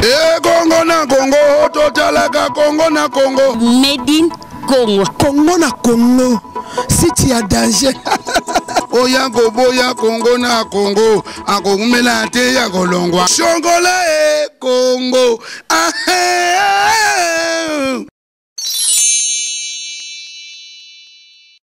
ekongo na kongo totalaka kongo na kongo medin kongo kongo na kongo siti ya danger oya koboya kongo na kongo akokumela te ya kolongwa shongola e kongo ahe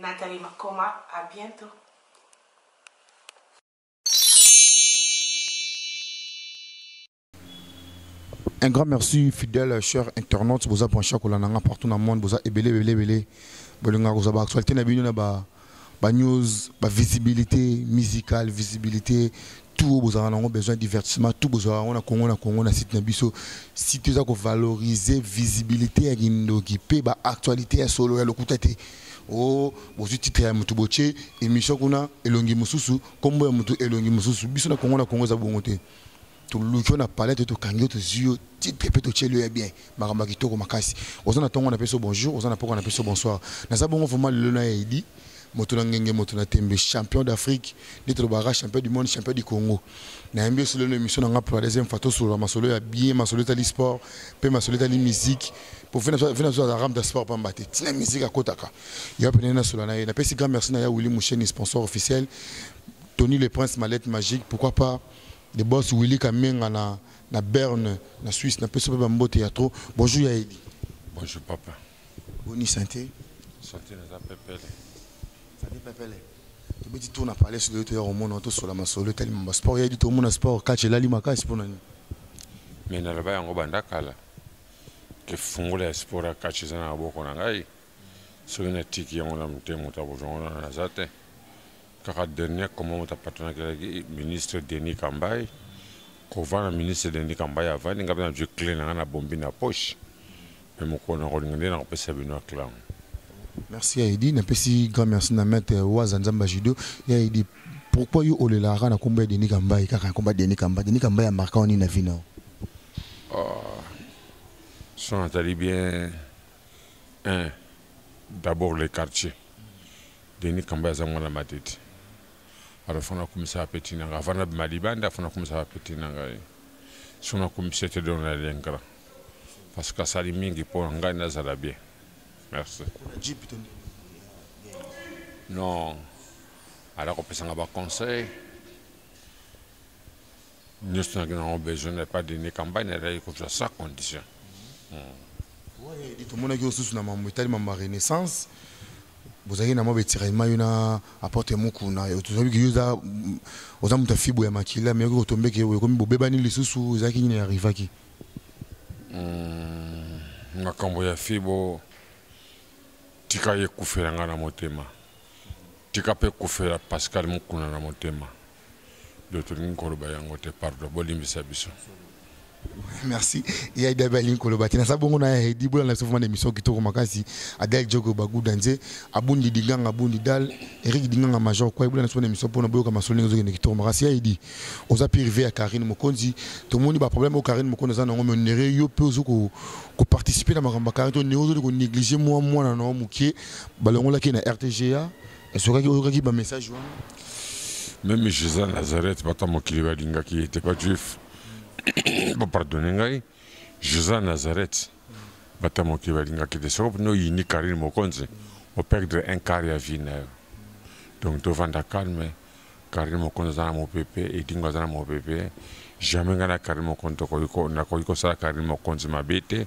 Nathalie Makoma à bientot. Un grand merci, fidèle, cher internaute, boza branché ko lananga partout dans le monde, boza ebele ebele ebele. Bolinga ko ba actualité na bino na ba ba news, ba visibilité musicale, visibilité tout oyo bozalaka nango besoin ya divertissement tout bozalaka yango na kongo na kongo na site na biso site eza kovalorize visibilité ya kindoki mpe baactualité ya solo ya lokuta te o oh, bozwi titre ya motu botie émission kuna elongi mosusu nkombo ya motu elongi mosusu biso na kongo na kongo eza bongo te toluki yo na palete tokangi yo tozwi yo titre mpe totyeli yo ya bien makambo ya kitoko makasi oza na ntongo na peso bonjour oza na poko na peso bonsoir naza bongo vraimen lelo na yaidi moto na ngenge moto na tembe champion d'afrique nde tolobaka champion du monde champion du congo nayambi oso lelo na émission na nga pour la deuxième fois tosolola masolo ya bien masolo etali sport mpe masolo etali musique po vena biso aza ramda sport pamba te ntina musique akotaka ya pene nasolola na ye napesi grand merci na ya willi moucheni sponsor officiel tony le prince malette magique pourquoi pas le boss willi kamenga na na Berne na Suisse na pesa ba mbote ya trop bonjour ya Edi bonjour papa boni santé santé na pepele santé pepele tobeti tour na palais de to ya komona to sola masolo etali mamba sport ya Edi to mona sport catch elali makasi pona ni mais na loba yango banda kala ke fungola ya sport ya catch eza na maboko na ngai soki na tiki yango na motema ta bozongo na naza te kaka dernier comment moto apatronakelaki ministre denis kambai kovanda ministre denis kambai avandi ngai mpe nazwi cle na ngai na bombi na poche me mokolo na kolinga nde nakopesa bino aclango merci ya edi napesi grand merci na maître waza nzamba judo ya edi pourquoi yo olelaka na nkombo ya denis kambai kaka na nkombo ya denis kambai denis kambai ya marka wani na vino ah, so natali bien un d'abord le quartier Denis Kamba aza mwana Matete alors fana kumisa petit nanga fana bima libanda fana kumisa petit nanga ye sona kumisa te don na lengra parce que asali mingi mpo na ngai nazala bien merci non ala kopesanga baconseil Nous avons besoin de pas d'une campagne ezalaki kozwa sa condition tomonaki yo susu na mambo etali mambo ya renaissance bozalaki na mwa betiraillement yo na aporte mokuna tozobi ke yoza oza moto ya fibo ya makila me yoki kotombeke ekomi bobebani lisusu ezalaki nini arrivaki hmm, makambo ya fibo tika ye kufela ngai na motema tika mpe kufela pascal mokuna na motema do tolingi koloba yango te pardon bolimbisa biso merci ya idabi alingi koloba te naza bongo na hedi bolanda biso vraimen na émission kitoko makasi adal jogo baguda nze abundi dinganga abundi dal eric dinganga major kwai bolanda biso na émission mpona boyoka masolo ndenge ozokende kitoko makasi ya edi oza mpe rive ya karine mokonzi tomoni baproblème oyo karine mokonzi aza nango menere yo mpe ozo koparticipe na makambo ya karine to neo ozoli konéglige mwa mwana na yo moke balongolaki na rtga Ezokaki oyokaki ba message wana? Meme Jésus à Nazareth bata mokili balingaki ye te ba juif. Ba pardonner ngai. Jésus à Nazareth bata mokili balingaki te. Soko no yini Karine Mokonzi o perdre un quart ya vie na yo. Donc tovanda calme. Carine Mokonzi aza na mopepe, Edingo aza na mopepe. Jamais ngai na Carine Mokonzi tokoki ko nakoki kosala Carine Mokonzi mabe te.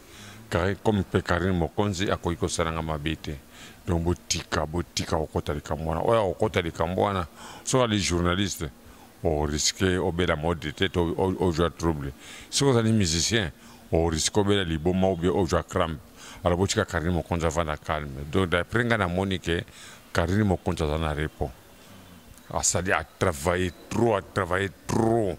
Carine comme mpe Carine Mokonzi akoki kosala ngai mabe te. Donc botika botika kokota likambo wana. Oyo akokota likambo wana soki ali journaliste o risque obela mode te to ozwa trouble. Soki ozali musicien o risque obela liboma ou bien ozwa crampe. Alors botika Carine Mokonzi avanda calme. Donc d'après ngai namoni que Carine Mokonzi aza na repos. asali a travailler trop a travailler trop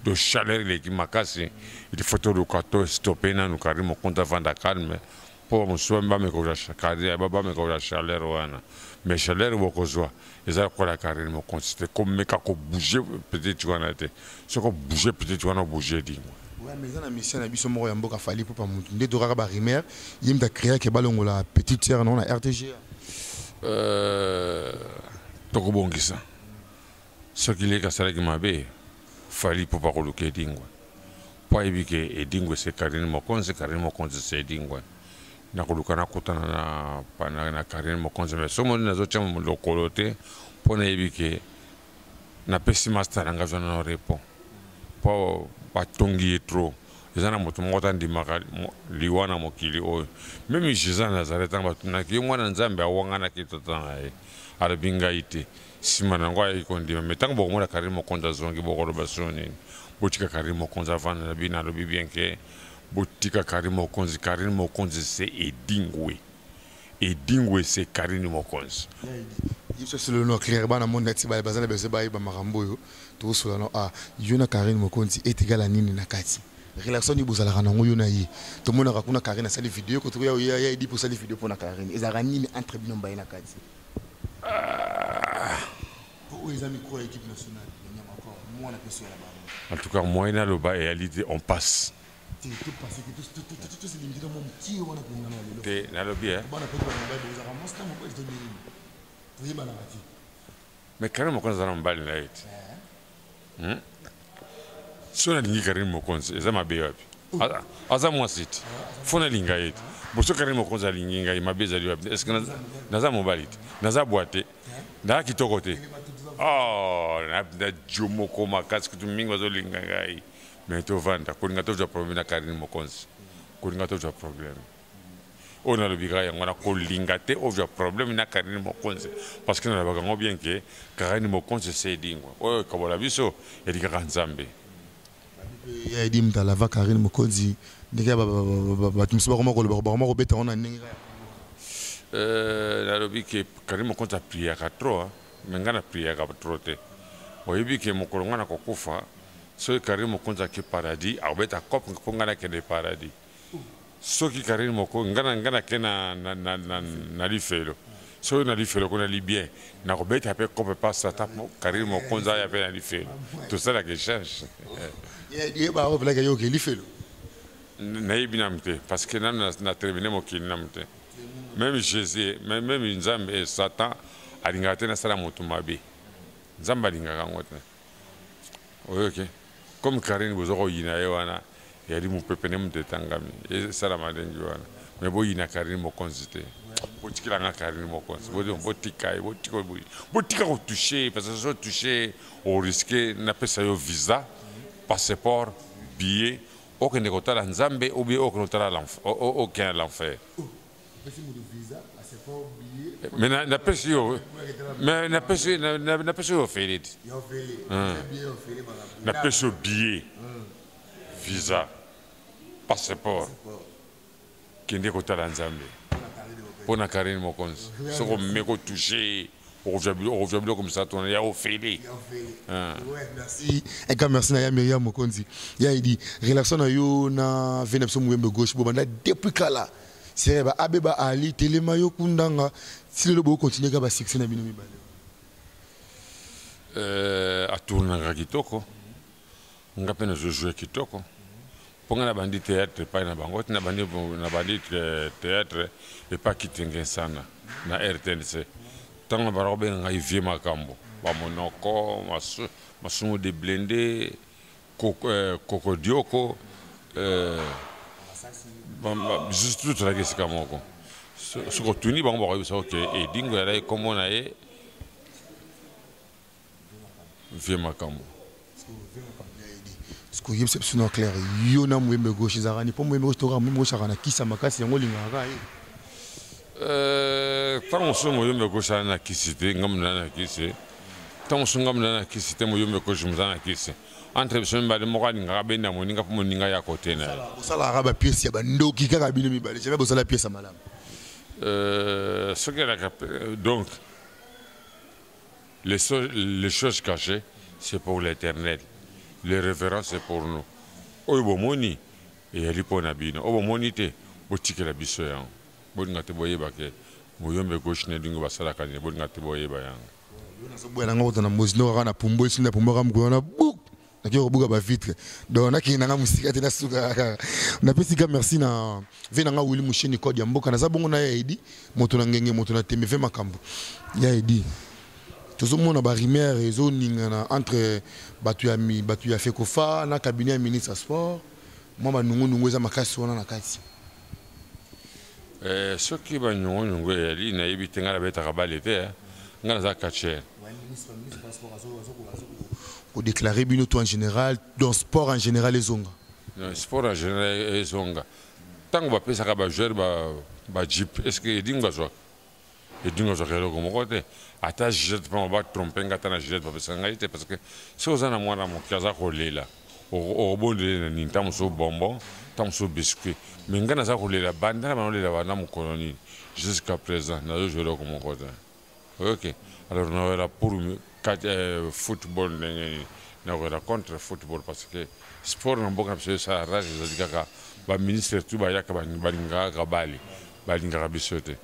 de chaleur eleki makasi il faut toluka to stoppe nanu carine mokonta vanda calme mpo mosusu bamekoswa carine bamekoswa chaleur wana mais chaleur bokozwa eza lokola carine mokonsi te komeka kobouge petite wana te soki obouge peut-être wana obouge dingo Ouais, mais eza na mission na biso moko ya mboka fali mpo pa motu nde tokaka ba rumeur ye moto akreaki balongola petite sœur nango na rtga euh, tokobongisa soki leki asalaki mabe fali mpo pakoluka edingwe mpo ayebi ke edingwe se karine mokonzi karine mokonzi se edingwe nakoluka nakutana na, na, na karine mokonzi me soki moni nazotya lokolo te mpo nayebi ke napesi masta na ngai zona na repo mpo batongi ye trop eza na moto moko tandimaka liwa na mokili oyo meme jesus ya nazareth ntango batunaki ye mwana nzambe awanganaki tata na ye alobi ngai te nsima na yango ayaki kondima me ntango bokomona karine mokonzi azongi bokoloba sio nini botika karine mokonzi avanda na bino alobi bien ke botika karine mokonzi karine mokonzi se edingwe Edingwe ese Carine Mokonzi. Yebisa solo no clair bana monde nati ba bazana bese ba yeba makambo oyo to solo no ah yo na Carine Mokonzi etigala nini na kati relation ni bozalaka nango yo na ye to monaka kuna Carine asali video ko to ya ya edi po sali video pona Carine ezalaka nini entre bino mbaye na kati ah. oyo oh, eza micro ya équipe nationale ya nyama ko mwana peso ya la bango en tout cas moyen na loba et on passe te nalobi eh. mais karine mokonzi aza na mobali na ye te eh. hmm? so nalingi karine mokonzi eza mabe wapi aza mwasi te fo nalinga ye te boso karine mokonzi alingi ngai mabe ezali wapi te estce naza mobali te naza bwa te naza kitoko te oh, na jo moko makasi kutu mingi bazolinga ngai mais tovanda kolinga tozwa problème na Carine Mokonzi kolinga tozwa problème oyo nalobika yango wana kolinga te ozwa problème na Carine Mokonzi parce que nalobaka yango bien ke Carine Mokonzi se edingwa oyo ekabola biso elikaka Nzambe ya edi mtala va Carine Mokonzi ndenge bato mosusu bakoma koloba bakoma kobeta yango na ndenge euh, nalobi ke Carine Mokonzi apriaka trop Mais nga na priaka trop te. Oyebi ke mokolo nga nakokufa soki Carine Mokonzi ake paradis akobeta cop mpo nga nakende paradis. Soki Carine Mokonzi nga na nga nake na na na na, na lifelo. Soki na lifelo ko nali bien nakobeta pe cop pa sata mpo Carine Mokonzi aya pe na lifelo. Tosalaka echange. Yeba oyo pelaka yo ke lifelo. Nayebi nanu te parce que nanu na termine mokili nanu te. meme jesus meme nzambe eh, satan alingaka te nasala moto mabe nzambe alingaka yango te oyoki comme karine boza koyina ye wana yali mopepe nde moto etangami esalama ndenge wana me boyina karine mokonzi te botikela nga karine mokonzi botika ye botika kotouche ye parce que so touche oriske napesa yo visa passeport billet Okende kotala Nzambe ou bien okende kotala l'enfer? Okende na l'enfer. Mais na na pesi yo mais na pesi na na pesi yo ofele ti. Na pesi yo billet visa passeport. kende kotala nzambe mpo na karine mokonzi soki omeme kotouche ye okozwa biloko misato wana ya ofele ah. eka merci na ya miriam mokonzi ya edi relation na yo na ve na biso muyembe gauche bobanda depuis kala sere ba abe ba ali telema yo kundanga ti lelo bokokontinue kaka basuccès na bino mibale euh, atournaka kitoko nga mpe nazo joue kitoko mpo nga nabandi théâtre epai na bango ti nabandi nabandi théâtre epai kitenge nsana na rtnc ntango na banda kobenga ngai vie makambo bamonoko masu, masumu de blende kokodioko eh, eh, juste tozalaki esika moko soki otuni bango bakoyebisa oke edingo yalaki nkombo na ye vie makambo sikoyo yebisa biso na claire yo na moyembe gauche ezalaka ni mpo moyembe gauche tokaka moyembe gauche aka na kisa makasi yango olingaka ye ntango mosusu moyembe gauche aa na kisi te ngambo na na kisi ntango mosusu ngambo na na kisi te moyembe gauche moza na kisi entre biso mibale moko alingaka benda moninga mpo moninga ya kote na ye bosalaka bapiese ya bandoki kaka bino mibale jamai bosala piese ya malamu soki elaka donc Les, so les choses cachées, c'est pour l'éternel. Les révérences, c'est pour nous. Oyo bomoni, eyali mpo na bino. Oyo bomoni te, botikela biso yango. Bolinga te boyeba ke muyombe gauche na dingo basalaka nini. Bolinga te boyeba yango. Yo nazoboya na nga kota na mozi ndoka kaka na pumbu esimbi na pumbu aka mokolo wana buk nakei kobuka bavitre donc nakei nanga mosika te nasuka kaka napesi ka merci na ve nanga wili mosheni code ya mboka naza bongo na ya edi moto na ngenge moto na tembe ve makambo ya edi tozomona barimaire ezoningana entre bato ya, bato ya fekofa na cabinet ya ministre ya sport mwa banungunungu eza makasi wana na kati Eh, soki banyongoniongo eyali nayebi te ngai nabetaka bale te eh. ngai naza catcher kodeklare bino to en général dans sport en général ezonga sport en général ezonga ntango bapesaka bajoueur bajipe est ce que edingo bazwaka edinga ozwaka eloko moko te ata gilete mpe ba trompe nga ata na gilete bapesa ngai te parce que soki oza na mwana moke aza kolela okobondele na nini ntango mosusu bonbon ntango mosusu biscuit mais ngai naza kolela banda na bana olela banda mokolo nini jusqu'à présent nazozwa eloko moko te oyoke alors noela pour Kati eh, football ndenge nini nakozala contre football parce que sport na mboka na biso esala rage ezali kaka baministre tu bayaka balingaka kaka bale balingaka biso te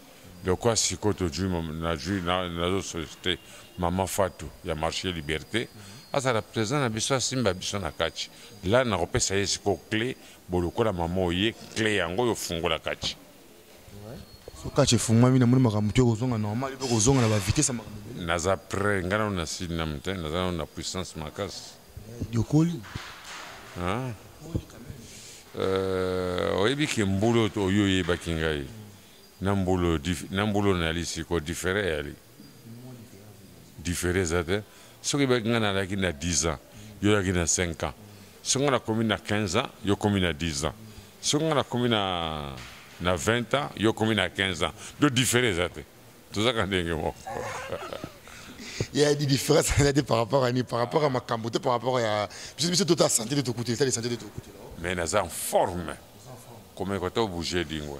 lokwa sikoyo tozwi nazwi nazosolicite mama fatu ya marché liberté azala président na biso asimba biso na kati la nakopesa ye sikoyo cle bolokola mama oye cle yango oyo ofungola kati so kacha efungwami namoni makambo te kozonga normal mpe kozonga na bavitese makambo naza près ngai nano na sud na mote naza nano na puissance makasi yokoli euh, oyebi ke mbula oyo oyebaki ngai na mbula oyo nayali siko difere eyali difere eza te soki ebaki ngai nalaki na 10 ans yo olaki na 5 ans soki ngai nakomi na 15 ans yo okomi na 10 ans soki ngai nakomi na na 20 ans yo okomi na 15 ans do difere eza te tozaka ndenge moko il y a des différences par rapport à ni par rapport à makambo te par rapport à biso biso tota santé de tokutela sali santé de tokutela mais naza en forme komeka to bouger dingwe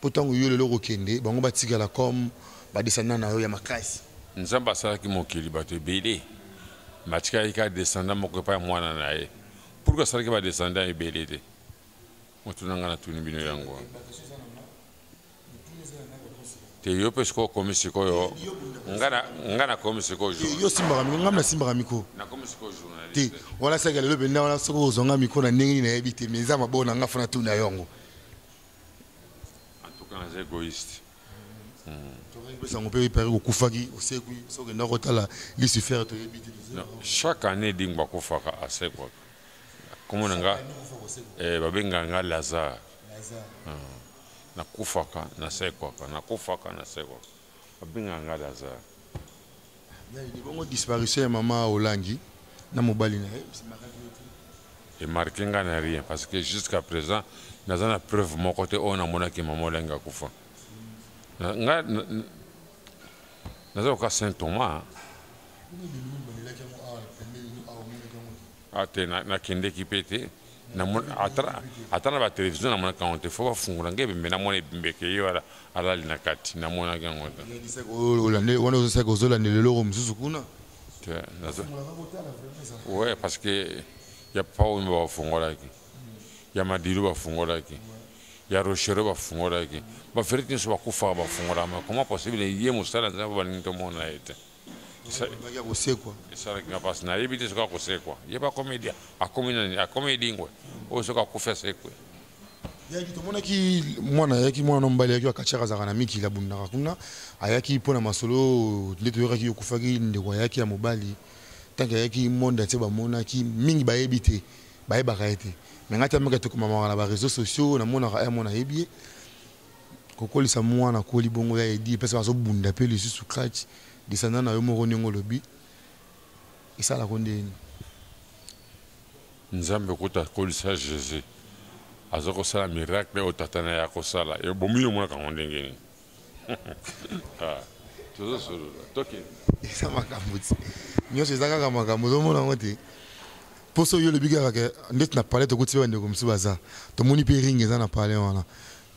Po tango yo lelo okokende bango batikala comme ba descendants na yo ya makasi. Nzambe asalaki mokili bato ebele mais atikalaki kaka descendant moko epai ya mwana na ye. Pourquoi asalaki ba descendants ebele te? Motuna ngai natuni bino yango. Te yo pe sikoyo okomi sikoyo ngai nakomi sikoyo journaliste. Yo osimbaka miko ngai nasimbaka miko. Nakomi sikoyo journaliste. Te wana saki ya lelo mpenza wana soki okozwa ngai miko na ndenge nini nayebi te mais eza maboko na ngai fo natuna yo yango. En tout cas, les égoïstes. chaque année dingo akufaka asekwaka komona nga eh, babengaka nga lazare hmm. nakufaka nasekwaka nakufaka nasekwaka Abenga nga Lazare. Nani bongo disparition ya mama Olangi na mobali na ye et marqué nga na rien parce que jusqu'à présent naza na preuve moko te oyo namonaki mama Olangi akufa. Nga naza koka Saint Thomas. Ah te nakendeki mpe te. ata na batelevizio namonaka yango te fo bafungola ngai ebembe namona ebembe ke ye wana alali na kati namonaki yango wana ozosaki ozolandela eloko mosusu kuna we parce que ya paomi bafungolaki ya madilu bafungolaki ya rochero bafungolaki baferete nyonso bakufaka bafungolama comment possible ye mosala nzambe balingi tomona ye te esalaki nga mpasi nayebi te soki akosekwa ye bakomedia akomi nani akomi edingwe oyo soki akufi asekwe yaki tomonaki mwana ayaki mwana na mobali ayaki akatiaka azalaka na mikili abundaka kuna ayaki mpo na masolo nde toyokaki yo okufaki ndeko ayaki ya mobali ntanke ayaki monde atie bamonaki mingi bayebi te bayebaka ye te me ngai te ameka tokomamaka na bareseau sociaux namonaka ya mwana ayebi ye kokolisa mwana koli bongo ya edi epesa bazobunda pe lisusu crach descendant na yo moko ndenge olobi esalako ndeni nzambe kuta akolisa jesus aza kosala miracle oyo tata na ye akosala ebomi yo monaka yango ndenge nini ah, tozosolola toke eza makambo ti nyonso eza kaka makambo ozomona yango te Poso yo lobi kaka ke ndeti na palais tokuti pe bandeko mosusu baza tomoni pe ring eza na palais wana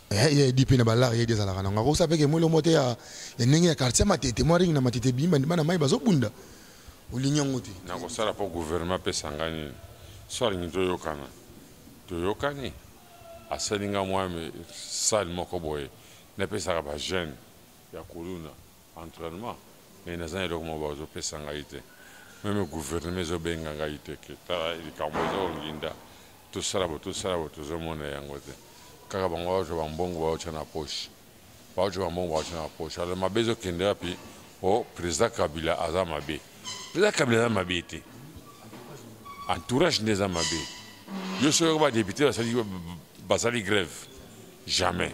eh, ye edi pe na balare ye edi azalaka nango akosa pe ke mwa eloko moko te ya ndenge ya quartier matete mwa ring na matete bimi bandima na mai bazobunda olingi yango te nakosala mpo guvernema apesa ngai nini so alingi toyokana toyokani asali ngai mwa sale moko boye napesaka bajeune ya kuluna entraînement mais naza na eloko moko bazopesa ngai te meme gouvernement ezobenga ngai te ke tala likambo ezonginda tosala bo tosala bo tozomona yango te kaka bango baotya bambongo baotya na poche baotya bambongo baotya na poche alors mabe ezokende wapi o oh, président kabila aza mabe président kabila aza mabe te entourage nde eza mabe yo soki badepute basali grève jamais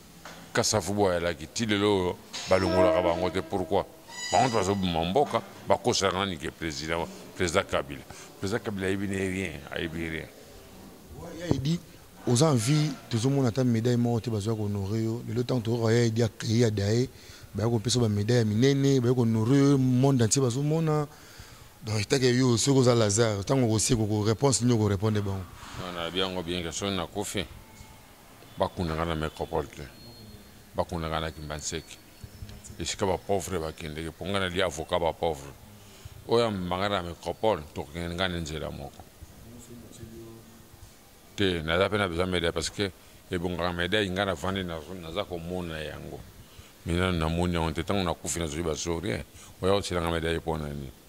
Kasavubu ayalaki ti lelo oyo balongolaka bango te pourquoi? Bango nde bazoboma mboka bakosela nani ke president president Kabila president Kabila ayebi ne rien ayebi rien. Ya Eddy oza en vie tozomona ata medaille moko te bazoya ko honore yo lelo ntango toyoka ya Eddy akei ya daye baya kopesa ba medaille ya minene baye ko honore yo monde entier bazomona donc etake yo soki oza Lazare ntango okoseko ko réponse nini oko répondre bango. Nana biango bien ke soki nakufi bakunda nga na mecropole te bakunda nga na kimbanseki esika bapauvre bakendeke mpo nga nalia avocat bapauvre oyo amema nga na mecropole tokokende nga na nzela moko te naza mpe na besoin medaille parce que ebongaka medaille nga navandi naza komona yango minano namoni yango te ntango nakufi nazwi basorie oya kosilanga medaille mpo na nini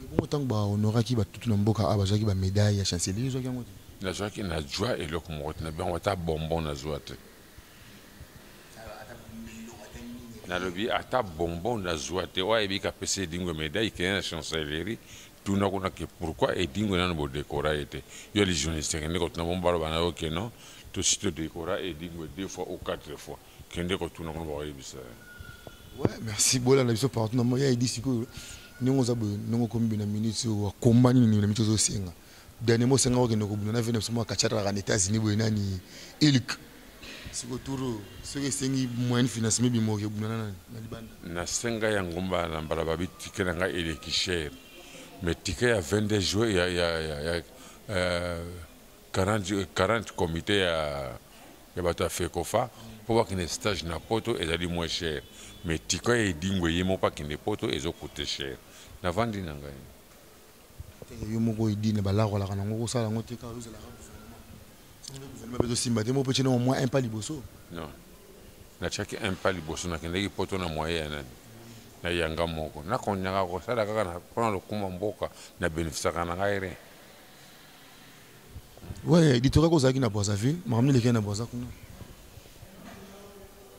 Ebongo tango ba honoraki ba tutu na mboka a bazwaki ba medaille ya chancelier yo ozwaki yango te? Nazwaki na zwa eloko moko te na bango ata bonbon na zwa te. nalobi ata bonbon na zwa te oyo ayebi kapesa edingo medaille kende na chancellerie tuna kuna ke pourquoi edingo nano bodekora ye te yo les journaliste kende kotuna bongo baloba na yo ke non tosi todekora edingo deux fois ou quatre fois kende kotuna kuna bakoyebisa ouais merci bolanda biso partout na moya edi sikoyo ndenge oza boye ndenge okomi boye na minute oyo akomba nini na minute ozosenga dernièrement osengaka okende kobunda na vene biso mwa kachataka na états-unis boye nani ilk sikoyo tour oyo soki esengi moyen financement ebima okebunda na nani na libanda nasenga ya ngomba na mbala babi tike na ngai eleki cher mais tike ya 22 juin ya, ya, ya, ya euh, 40, 40 comité ya ya bato ya fecofa mpo bakende stage na poto ezali moins cher mais tika ya edingwe ye moko akende poto ezo coute cher navandi na ngai eh, yo moko edine balakolaka nango kosala yango te kaka ozalaka gouvernement mpe tosimba te moko mpe tyena omwa un pas liboso non natyaki un pas liboso nakendaki poto na moyen ya nani na yanga moko nakonyaka kosala kaka mpona lokuma mboka na benefisaka na ngai rien Ouais, Ditora ko zaki na Brazzaville, makambo leki na Brazza kuna.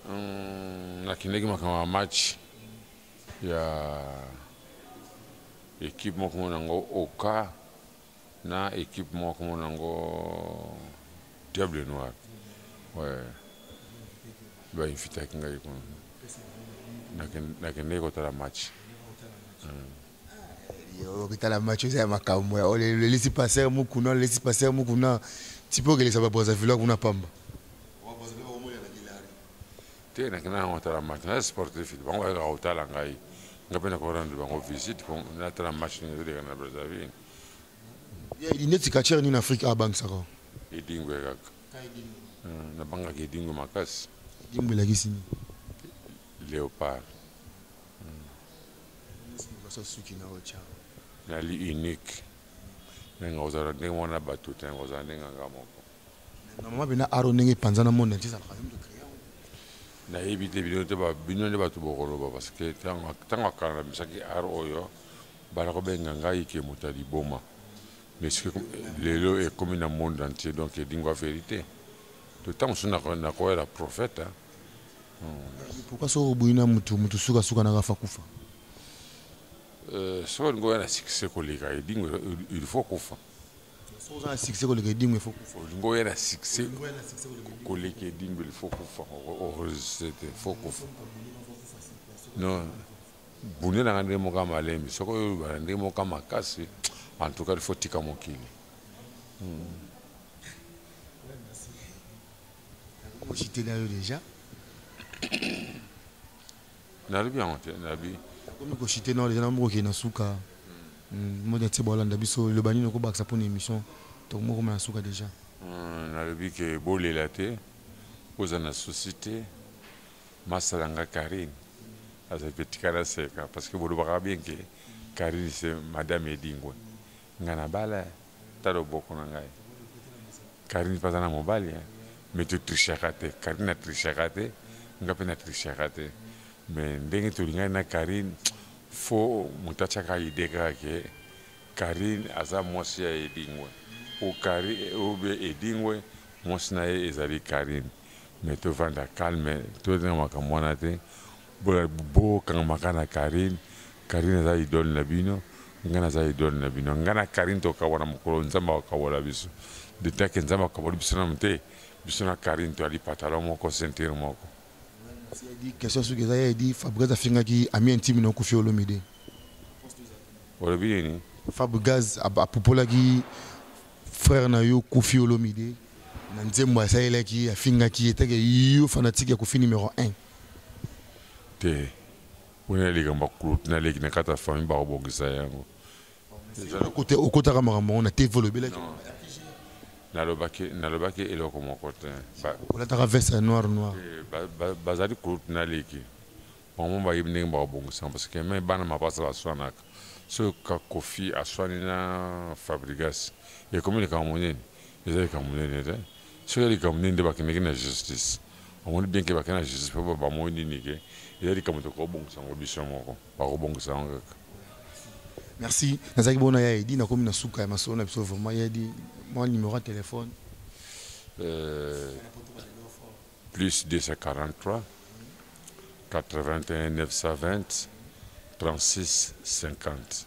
Hum, na kindeki makambo ya match ya équipe moko mona ngo Oka na équipe moko mona ngo Diable Noir. Ouais. Ba invitaki ngai kuna. Na kindeki kotala match. Hum. okitala match eza ya makambo ya olelisi passer mukuna olelisi passer mukuna tipe okelisa ba brazzaville kuna pamba te nakenda yango otala match naza sportif bango bayaka kotala ngai nga mpe nakorendre bango visite po natala match nini ezoleka na brazzaville neti katiere nini afrique abangisaka edingo ya kaka hmm, nabangaka edingo makasi edingo elakisi nini léopard Nali unique. Nenga ozala ndenge moko na bato te, ozala ndenge na nga moko. Normalement bina aro ndenge epanzana monde entier ezalaka yo moto créa yango. Nayebi te bino te bino nde bato bokoloba parce que tango tango akala na misaki aro oyo bana kobenga ngai ke moto ya liboma mais lelo ekomi na monde entier donc edingwa verite to tango mosusu nakoyela prophète Pourquoi soki oboyi na mutu mutu suka suka na kafa kufa? Euh, soki olingi oya na succès koleka edingo il faut kufa. Soki oza na succès koleka edingo il faut kufa. Olingi oya na succès koleka edingo il faut kufa. Okozete il faut kufa. Non. Bune na nga ndenge moka malembe soki oyo bana ndenge moka makasi en tout cas il faut tika mokili. Hmm. Nakoki kositela yo deja nalobi yango te nabi nakomi kosite nao deja namoko okende na suka hmm, modi atie bolanda biso loba nini okobakisa mpo na émission tokomi okoma na suka deja hmm, nalobi ke bolela te oza na susi te masala nga karine azali mpe tika naseka parce que bolobaka bien ke karine se madame edingwe Nga na bala eh, ta loboko na ngai. Carine pe aza na mobali eh, mais to trichaka te. Carine a trichaka te, nga pe na trichaka te. Mais ndenge tolingani na Carine, fo moto atiaka idee kaka ke Carine aza mwasi ya Edingwe. Ou Carine, ou bien Edingwe, mwasi na ye ezali Carine. Mais to vanda calme, to linga makambo wana te. Bo kangama kaka na Carine, Carine aza idole na bino, nga naza idole na bino. Nga na Carine to kabwana mokolo Nzambe ako kabola biso. De temps que Nzambe akaboli biso nanu te, biso na Carine to yali patalon moko, ceinture moko. Question suki eza ya Eddy, Fabrigaz afingaki ami intime no Koffi Olomide. Olobi nini? Fabrigaz apupolaki frère na yo Koffi Olomide na nzembo asalelaki, afingaki ye, te ke yo fanatique ya Koffi numero un. te mpo na likambo ya kuloti na leki na kati ya famille bakobongisa yango okotaka makambo yango na tv olobelaki nalobaki nalobaki eloko moko te olataka veste ya noir noir eh, bazali kuloti na leki bango bayebi ndenge bakobongisa parce que me bana mapasa baswanaka soki kakofi aswani na fabrigas ekomi likambo monene eza likambo monene te soki ya likambo nini nde bakendeki na justice omoni bien ke bakenda na justice mpo bamoi nini ke eza likambo tokobongisa yango biso moko bakobongisa yango kaka merci nazalaki bona ya edi nakomi na suka ya masolo na biso vraiment ya edi mwa numero ya telefone euh, plus 243 81 920 36 50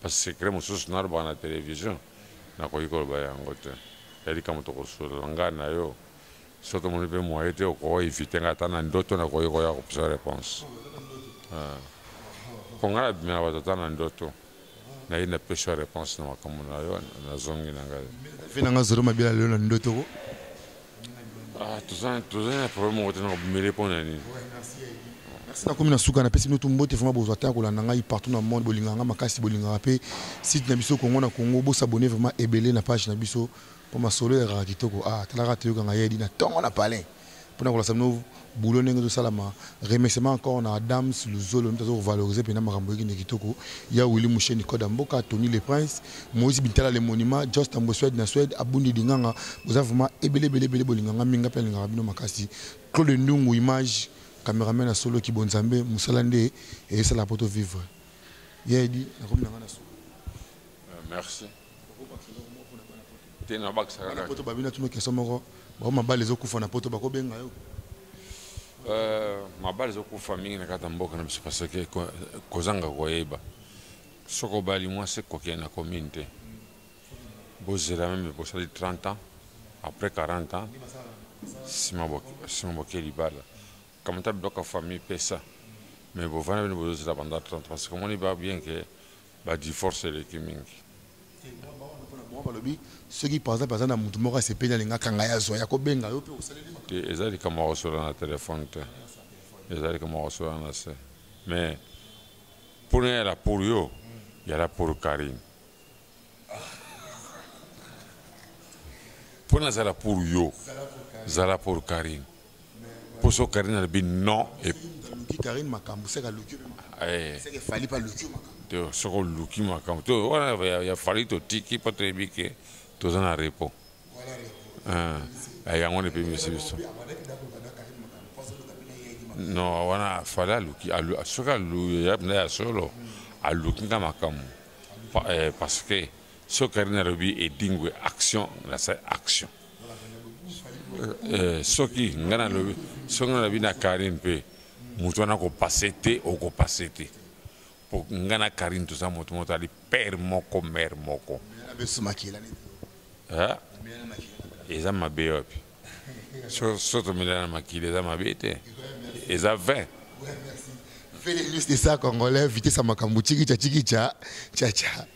Ba secret mususu nalobaka na television nakoki koloba yango te ya likambo tokosolola ngai na yo soki tomoni mpe moyen te oko eviter ngai ata na ndoto nakoki koya kopesa reponse mpo ngai nabimela bato ata na ndoto naye napesi yo reponse na makambo na yo nazongi na ngai vi na ngai zolo mabila lelo na ndoto Ah, toza toza na problème moko te na kobumele mpo na nini merci nakomi na suka napesi bino tumbote vraimen bozwa te ya kolanda ngai partout na monde bolingaka ngai makasi bolingaka mpe site na biso kongo na kongo bosabone vraimen ebele na page na biso mpo masolo elekaka kitoko a ah, talaka toyokanga yedi na ntongo na palin mpo na kolasa bino boulot ndenge ezo salama remerciement encore na Adams Luzolo mtu azo valoriser pena makambo yeki ne kitoko ya Willy Musheni Koda Mboka Tony le Prince Moïse Bintala le monument Just Tambo Swede na Swede Abundi Dinganga boza vraiment ebele ebele ebele bolinga nga mingi nga pe nalingaka bino makasi Claude Ndungu image cameraman ya solo kibo Nzambe musala nde ezo sala poto vivre ye edi nakomi na nga na suka Euh, merci. Te na bakisa kaka. Poto babina tuno question moko. Ba mabali ezokufa na poto bako benga yo. Euh, mabali ezokufa mingi na kata mboka na biso parce que kozanga koyeba. Soko bali mwasi kokende na commune te. Bozela meme bosali 30 ans après 40 ans sima boke libala kamata biloko ya famille pesa mais bovanda bino bozozela banda 30 parce que omoni ba bien ke Ba divorce eleki mingi. Bango balobi soki par exemple aza na mutu moko asepeli alinga akanga ye azwa ye akobenga yo mpe osaleli makambo te eza likambo ya kosolola na telefone te eza likambo ya kosolola na se mais mpona yala pour yo yala pour karine mpo nazala pour yo zala pour karine poso Karine alobi non et aluki Karine makambo seke aluki eh. seke efali mpe aluki makambo te soki oluki makambo te wana ya fali totiki mpo toyebi ke toza na repos ah, eh, yango wana epemisi biso non wana fali aluki soki aluki ya solo aluki nga makambo eh, parce que Soki Carine alobi Edingwe action nasa action. Euh, soki nga nalobi soki nalobi na Carine mpe moto wana kopase te okopase te mpo nga na Carine toza moto moto ali père moko mère moko eza mabe wapi so tomelana makili eza mabe te eza 20 Fais les news de ça congolais, vitesse à Makambu, tchiki tcha tchiki tcha tcha tcha.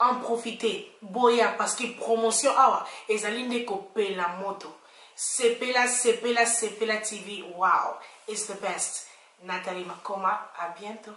En profite boya parce que promotion awa ezali nde ko pela moto sepela sepela sepela TV wow is the best Nathalie Makoma à bientot.